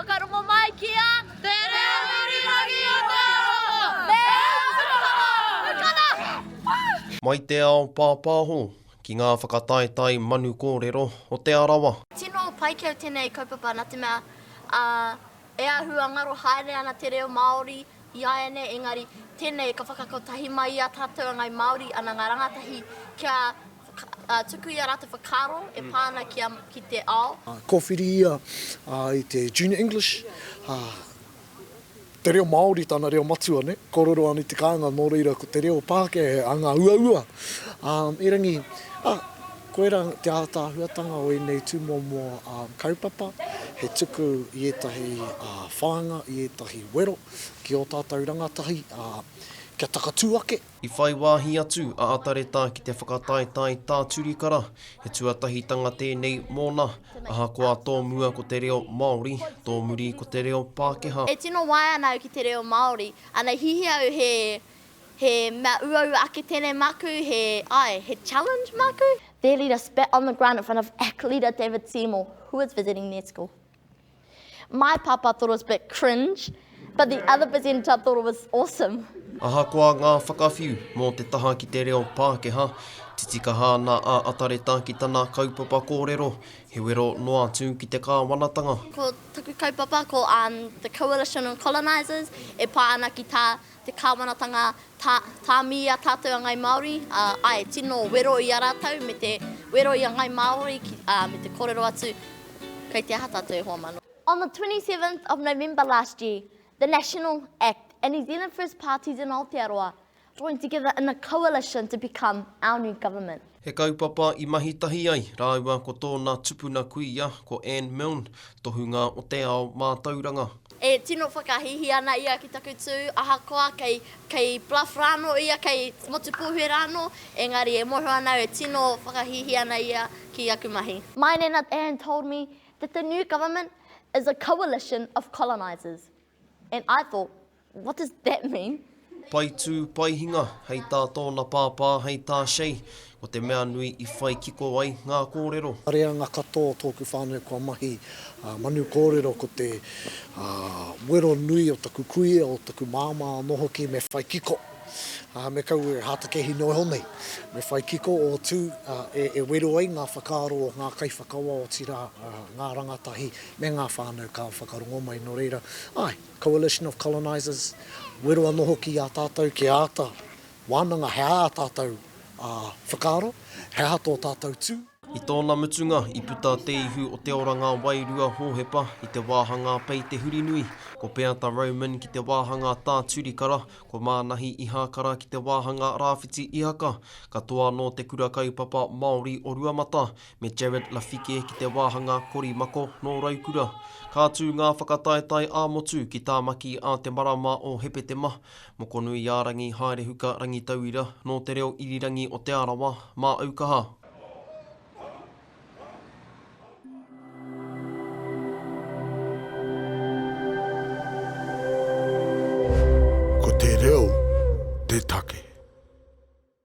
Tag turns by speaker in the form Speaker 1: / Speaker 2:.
Speaker 1: Whakarongo mai ki a Te Reo Irirangi Aotearoa! Me Aotearoa! Mai te ao pāpāho ki ngā whakataetae manu kōrero o Te Arawa. Tino paikea
Speaker 2: tenei kaupapa na te mea a e ahu a ngaro haere ana te reo Maori i aianei engari tenei ka whakakotahi mai i a tatou a ngai Maori ana nga rangatahi kia Whakatuku i a rātou whakaaro e pā ana ki te ao. Kōwhiri ia
Speaker 3: i te Junior English, te reo Māori tana reo matua, nē, kōrero ana i te kāinga nō reira ko te reo Pākehā he anga uaua. Erangi, ā, koirā te ātaahuatanga o ēnei tūmomo kaupapa, he tuku i ētahi whāinga, i ētahi wero ki ō tātou rangatahi kia takatū ake. I whai wāhi
Speaker 1: atu a Atareta ki te whakataetae tā Turikara, he tuatahitanga tēnei mōna, ahakoa tō mua ko te reo Māori, tō muri ko te reo Pākehā. E tino waea ana au
Speaker 2: ki te reo Māori. Ana, hihi au he, he mea uaua ake tēnei māku, he, ae, he challenge māku? Their leader spat on the ground in front of ACT leader David Seymour, who was visiting their school. My papa thought it was a bit cringe, but the other presenter thought it was awesome. Ahakoa ngā
Speaker 1: whakawhiu mō te taha ki te reo Pākehā, titikaha ana a Atareta ki tana kaupapa kōrero, he wero noa atu ki te kāwanatanga. Ko taku
Speaker 2: kaupapa ko The Coalition of Colonisers, e pā ana ki tā te kāwanatanga tā, tāmi i a tātou a Ngāi Māori, ā, āe, tino wero i a rātou me te wero i a Ngāi Māori, ki, ā, me te kōrero atu, kei te aha tātou e hoa mano. On the 27th of November last year, the National, act, and New Zealand First parties in Aotearoa joined together in a coalition to become our new government. He kaupapa i
Speaker 1: mahi tahi ai rāua ko tōna tupuna kuia, ko Anne Milne, tohunga o te ao mātauranga. E tino
Speaker 2: whakahīhī ana ia ki taku tū, ahakoa kei, kei Bluff rānō ia, kei Motupūhue rānō, engari e moho ana au e tino whakahīhī ana ia ki aku mahi. Maine nā Anne told me that the new government is a coalition of colonisers. And I thought, what does that mean? Pai tū,
Speaker 1: pai hinga, hei tā tōna pāpā, hei tā Shay, ko te mea nui i whai kiko ai ngā kōrero. Ka reanga katoa
Speaker 3: tōku whānau kua mahi manu kōrero ko te wero nui o taku kuia, o taku māmā anō hoki me whai kiko. Me kaua e hātake hino iho nei, me whai kiko o tū e wero ai ngā whakaaro o ngā kaiwhakawa otirā ngā rangatahi me ngā whānau ka whakarongo mai, nō reira, āe, coalition of colonisers, wero anō hoki i a tātou kia āta wānanga he aha ā tātou whakaaro, he aha tō tātou tū. I tōna mutunga,
Speaker 1: i puta te ihu o te oranga wairua Hōhepa i te wāhangā Pei Te Hurinui, ko Peata Roman ki te wāhangā Tā Turikara, ko Mānahi Ihākara ki te wāhangā Rāwhiti Ihaka, katoa nō te Kura Kaupapa Māori o Ruamata, me Jared Lafike ki te wāhanga korimako nō Raukura. Ka tū ngā whakataetae ā-motu ki Tāmaki ā te marama o Hepetema, Mokonuiārangi Haerehuka Rangitauira nō Te Reo Irirangi o Te Arawa, Māaukaha. Ko te reo te take.